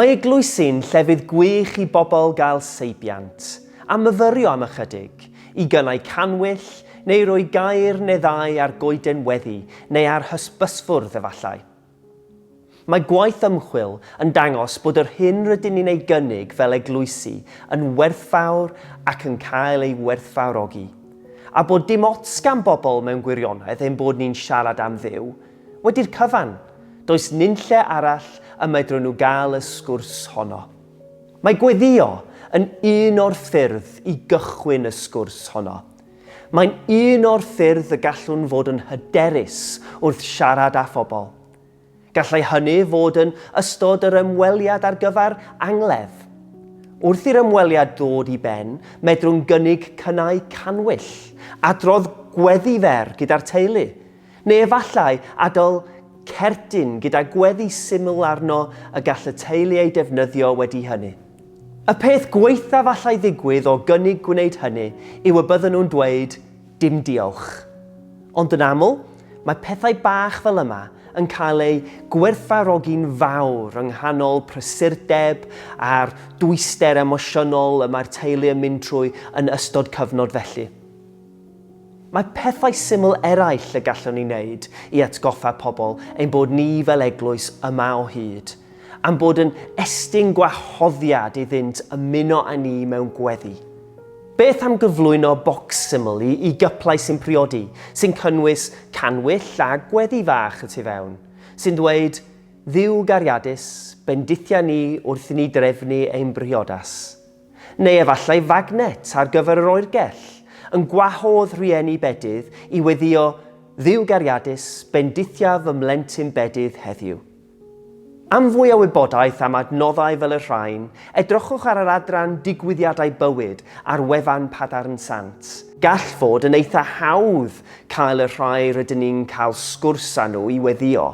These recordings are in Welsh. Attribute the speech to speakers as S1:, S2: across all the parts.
S1: Mae eglwysi'n llefydd gwych i bobl gael seibiant, a myfyrio am ychydig, i gynnau canwyll, neu roi gair neu ddau ar goeden weddi neu ar hysbysfwrdd efallai. Mae gwaith ymchwil yn dangos bod yr hyn rydyn ni'n ei gynnig fel eglwysi yn werthfawr ac yn cael ei werthfawrogi, a bod dim ots gan bobl mewn gwirionedd ein bod ni'n siarad am Dduw, wedi'r cyfan, does nunlle arall y medrwn nhw gael y sgwrs honno. Mae gweddïo yn un o'r ffyrdd i gychwyn y sgwrs honno. Mae'n un o'r ffyrdd y gallwn fod yn hyderus wrth siarad â phobl. Gallai hynny fod yn ystod yr ymweliad ar gyfer angladd. Wrth i'r ymweliad ddod i ben, medrwn gynnig cynnau canwyll, adrodd gweddi fer gyda'r teulu, Neu efallai adael cerdyn gyda gweddi syml arno y gall y teulu ei defnyddio wedi hynny. Y peth gwaethaf allai ddigwydd o gynnig gwneud hynny yw y bydden nhw'n dweud 'dim diolch'. Ond yn aml, mae pethau bach fel yma yn cael eu gwerthfawrogi'n fawr yng nghanol prysurdeb a'r dwyster emosiynol y mae'r teulu yn mynd trwy yn ystod cyfnod felly. Mae pethau syml eraill y gallwn ei wneud i atgoffa pobl ein bod ni fel eglwys yma o hyd, a'n bod yn estyn gwahoddiad iddynt ymuno â ni mewn gweddi. Beth am gyflwyno bocs syml i i gyplau sy'n priodi, sy'n cynnwys cannwyll a gweddi fach y tu fewn, sy'n dweud, Dduw gariadus, bendithia ni wrth i ni drefnu ein briodas. Neu efallai fagnet ar gyfer yr oergell, yn gwahodd rhieni bedydd i weddïo Dduw gariadus, bendithiaf fy mhlentyn bedydd heddiw. Am fwy o wybodaeth am adnoddau fel y rhain, edrychwch ar yr adran Digwyddiadau Bywyd ar wefan Padarn Sant. Gall fod yn eitha' hawdd cael y rhai rydyn ni'n cael sgwrs â nhw i weddïo.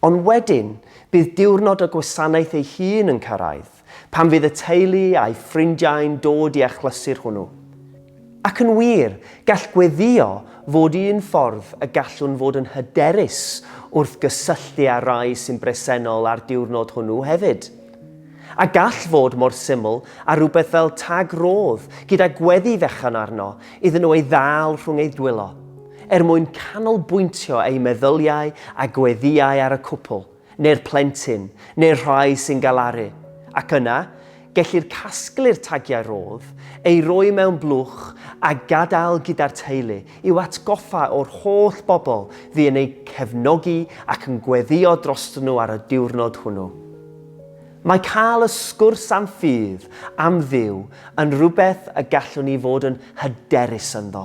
S1: Ond wedyn, bydd diwrnod y gwasanaeth ei hun yn cyrraedd, pan fydd y teulu a'i ffrindiau'n dod i achlysur hwnnw. Ac yn wir, gall gweddïo fod un ffordd y gallwn fod yn hyderus wrth gysylltu â'r rhai sy'n bresennol ar diwrnod hwnnw hefyd. A gall fod mor syml â rhywbeth fel tag rhodd gyda gweddi fechan arno iddyn nhw ei ddal rhwng eu dwylo. Er mwyn canolbwyntio eu meddyliau a gweddïau ar y cwpl, neu'r plentyn, neu'r rhai sy'n galaru. Ac yna, gellir casglu'r tagiau rhodd, eu rhoi mewn blwch a gadael gyda'r teulu i'w atgoffa o'r holl bobl fu yn eu cefnogi ac yn gweddïo drostyn nhw ar y diwrnod hwnnw. Mae cael y sgwrs am ffydd, am Dduw, yn rhywbeth y gallwn ni fod yn hyderus ynddo.